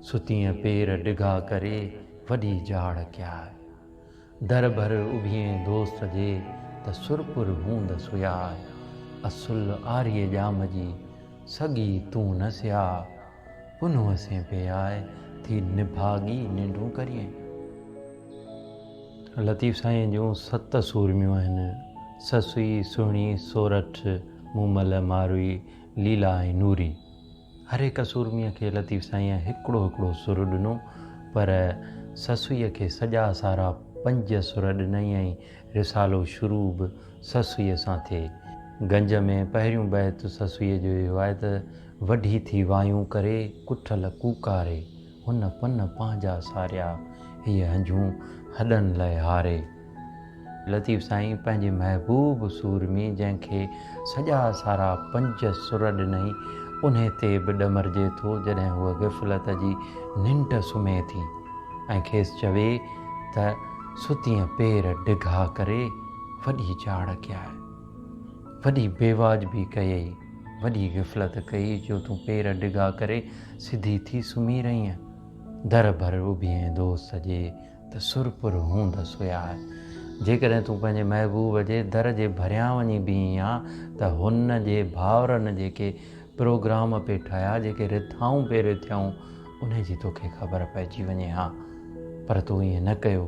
ستين پير ڊگھا ڪري وڏي جاڙ ڪيا در ڀر اڀين دوست جي ته سرپر هوند سيا اصل آريء ڄام جي سڳي تون نه سيا پنهون اسين پي آء ٿي نڀاڳي ننڊون ڪريين. لطيف سائين جون ست سورميون آهن، سسئي، سهڻي، سورٺ، مومل، ماروئي، ليلا ۽ نوري. هر هڪ سورميء کي لطيف سائينء هڪڙو هڪڙو سر ڏنو، پر سسئيء کي سڄا سارا پنج سر ڏنائين ۽ رسالو شروع به سسئيء سان ٿئي. گنج ۾ پهريون بيت سسئيء جو اهو آهي ته. وڍي ٿي وايون ڪري ڪٺل ڪوڪاري، هن پن پنهنجا ساريا، هيء هنجون هڏن لئه هاري. لطيف سائين پنهنجي محبوب سورمي جنهن کي سڄا سارا پنج سر ڏنئي، انهي تي به ڏمرجي ٿو جڏهن هوء غفلت جي ننڊ سمهي ٿي ۽ کيس چوي ته ستينء پير ڊگها ڪري، وڏي چاڙهه ڪيائي. وڏي بيواجبي ڪيئي، وڏي غفلت ڪئي جو تون پير ڊگها ڪري سڌي ٿي سمهي رهينء. در ڀر اڀيئي دوست جي ته سر پر هوندس هيا. جيڪڏهن تون پنهنجي محبوب جي در جي ڀريان وڃي بيهين ها ته هن جي ڀائرن جيڪي پروگرام پئي ٺاهيا، جيڪي رٿائون پئي رٿيائون، انهي جي توکي خبر پئجي وڃي ها. پر تون ائين نه ڪيو.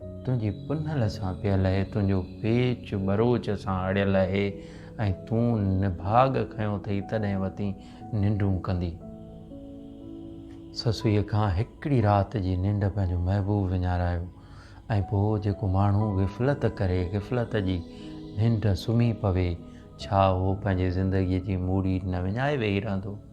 تنهنجي پنهل سان پيل اهي، تنهنجو پيچ ٻروچ سان اڙيل اهي ۽ تون نڀاڳ کنيو ٿئي تڏهن وتين ننڊون ڪندي. سسئيء کان هڪڙي رات جي ننڊ پنهنجو محبوب وڃارايو ۽ پوء جيڪو ماڻهو غفلت ڪري، غفلت جي ننڊ سمهي پوي، ڇا اهو پنهنجي زندگيء جي موڙي نه وڃائي ويهي رهندو؟